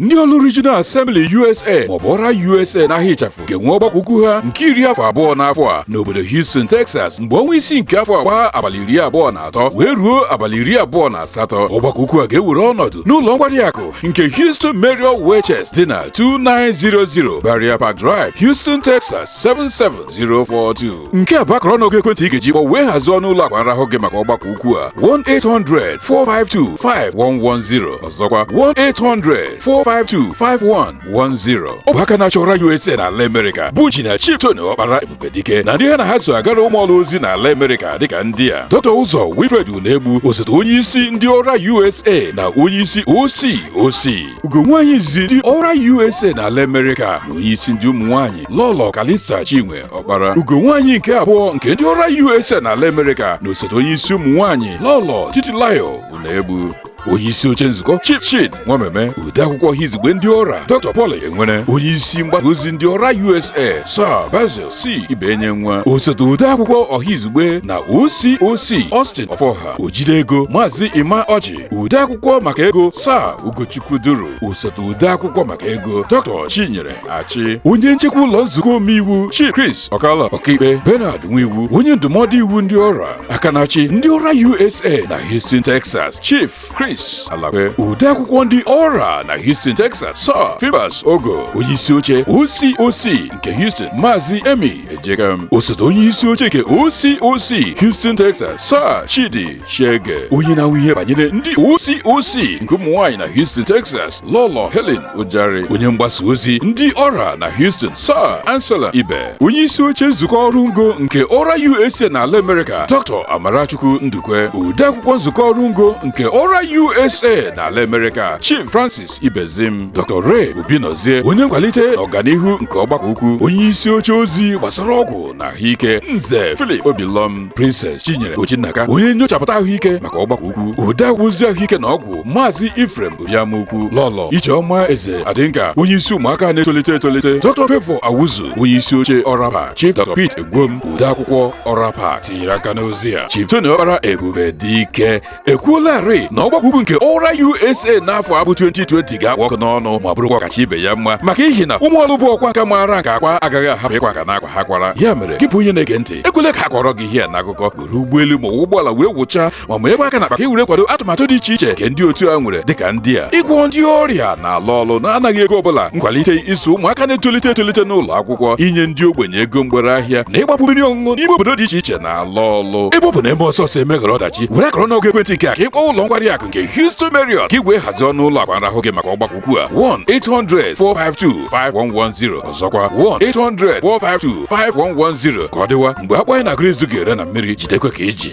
ndị ọlụ Regional Assembly USA maọbụ ọra USA n'aha ịchafụ ga-enwe ọgbakọ ukwu ha nke iri afọ abụọ n'afọ a n'obodo Houston Texas mgbe ọnwa isii nke afọ a gbaa abalị iri abụọ na atọ wee ruo abalị iri abụọ na asatọ ọgbakọ ukwu a ga-ewere ọnọdụ n'ụlọ nkwari akụ nke Houston Marriott Westchase dị na 2900 Briarpark Drive Houston Texas 77042 nke a bụ akara ọnụọgụ ekwentị ị ga-eji kpọ wee hazie ọnụ ụlọ akwa nrahụ gị maka ọgbakọ ukwu a 1-800-452-5110 zọkwa 1-800-452-5110 ọ bụ aka na-achị ọra USA na ala Amerịka bụ Injinia Chief Tony Ọkpara Ebubedike na ndị ha na ha so agara ụmụ Ọlụ ozi na ala Amerịka dịka ndị a Dr. Ụzọ Wilfred Unegbu osote onye isi ndị ọra USA na onye isi OC OC ugonwaanyị izizi ndị ọra USA na ala Amerịka na onye isi ndị ụmụ nwaanyị Lọlọ Kalista Chinwe Ọkpara ugonwaanyị nke abụọ nke ndị ọra USA na ala Amerịka na osote onye isi ụmụ nwaanyị Lọlọ Titilayo Unegbu onye isi oche nzukọ Chief Chid Nwameme ode akwụkwọ ọha izugbe ndị ọra Dr. Paul Enwere onye isi mgbasa ozi ndị ọra USA Sir Basil C. Ibenyenwa osote ode akwụkwọ ọha izugbe na OCOC Austin Ọfọha ojide ego Maazị Emma Ọjị ode akwụkwọ maka ego Sir Ugochukwu Duru osote ode akwụkwọ maka ego Dr. Chinyere achị onye nchekwa ụlọ nzukọ omeiwu Chief Chris Okala ọkaikpe Bernard Nwiwu onye ndụmọdụ iwu ndị ọra aka na-achị ndị ọra USA na Houston Texas Chief Chris Alakwe ode akwụkwọ ndị ọra na Houston Texas Sir Fibers Ogo onye isi oche OCOC nke Houston Maazị Emmy Ejekam osote onye isi oche nke OCOC Houston Texas Sir Chidi Chiege onye na-ahụ ihe banyere ndị OCOC nke ụmụ nwaanyị na Houston, Texas, Lọlọ Helen Ojari, onye mgbasa ozi ndị ọra na Houston, Sir Anselm Ibe, onye isi oche nzukọ ọrụ ngo nke ọra USA na ala Amerịka, Dr. Amarachukwu Ndukwe, odeakwụkwọ nzukọ ọrụ ngo nke ọra USA na ala Amerịka, Chief Francis Ibezim, Dr. Ray Obinozie, onye nkwalite na ọganihu nke ọgbakọ ukwu, onye isi oche ozi gbasara ọgwụ na ahụike, Nze Philip Obilom, Princess Chinyere Ochinnaka onye nyochapụta ahụike maka ọgbakọ ukwu odeakwụkwọ ozi ahụike na ọgwụ maazị Ephraim Oriamakwu Lọlọ Ijeọma Eze Adịnka onye isi ụmụaka na-etolite etolite Dr. Favour Awuzu onye isi oche Ọrapa Chief Dr. Pete Egwom odeakwụkwọ Ọrapa tinyere aka n'ozi a Chief Tony Ọkpara Ebube Dike ekwuolarị na ọgbakọ ukwu nke ọra USA n'afọ a bụ 2020 ga-akpụ ọkụ n'ọnụ ma bụrụkwa ọkacha ibe ya mma maka ihi na ụmụ Ọlụ bụ ọkwa nka maara nke akwa agaghị ahapụ ịkwa nka na akwa ha kwara ya mere gị bụ onye na-ege ntị ekwele ka a kọọrọ gị ihe a n'akụkọ were ụgbọelu ma ụgbọala wee wụchaa ma meekwa aka n'akpa ka e were kwado atụmatụ dị iche iche nke ndị otu a nwere dịka ndị a ịgwọ ndị ọrịa n'ala Ọlụ na-anaghị ego ọbụla nkwalite ịzụ ụmụaka na-etolite etolite n'ụlọ akwụkwọ inye ndị ogbenye ego mgbere ahịa na ịgbapu mmiri ọṅụṅụ n'ime obodo dị iche iche na ụlọ ọlụ ebe ọ bụ na e mee ọsọ ọsọ emeghara ọdachi were akara ọnụọgụ ekwentị nke a ka ị kpọọ ụlọ nkwari akụ nke Houston Marriott ka i wee hazie ọnụ ụlọ akwa nrahụ gị maka ọgbakọ ukwu a 1-800-452-5110 ọzọkwa 1-800-452-5110 ka ọ dịwa mgbe akpụ anyị na-agụrụ izu ga-ere na mmiri jidekwa ka i ji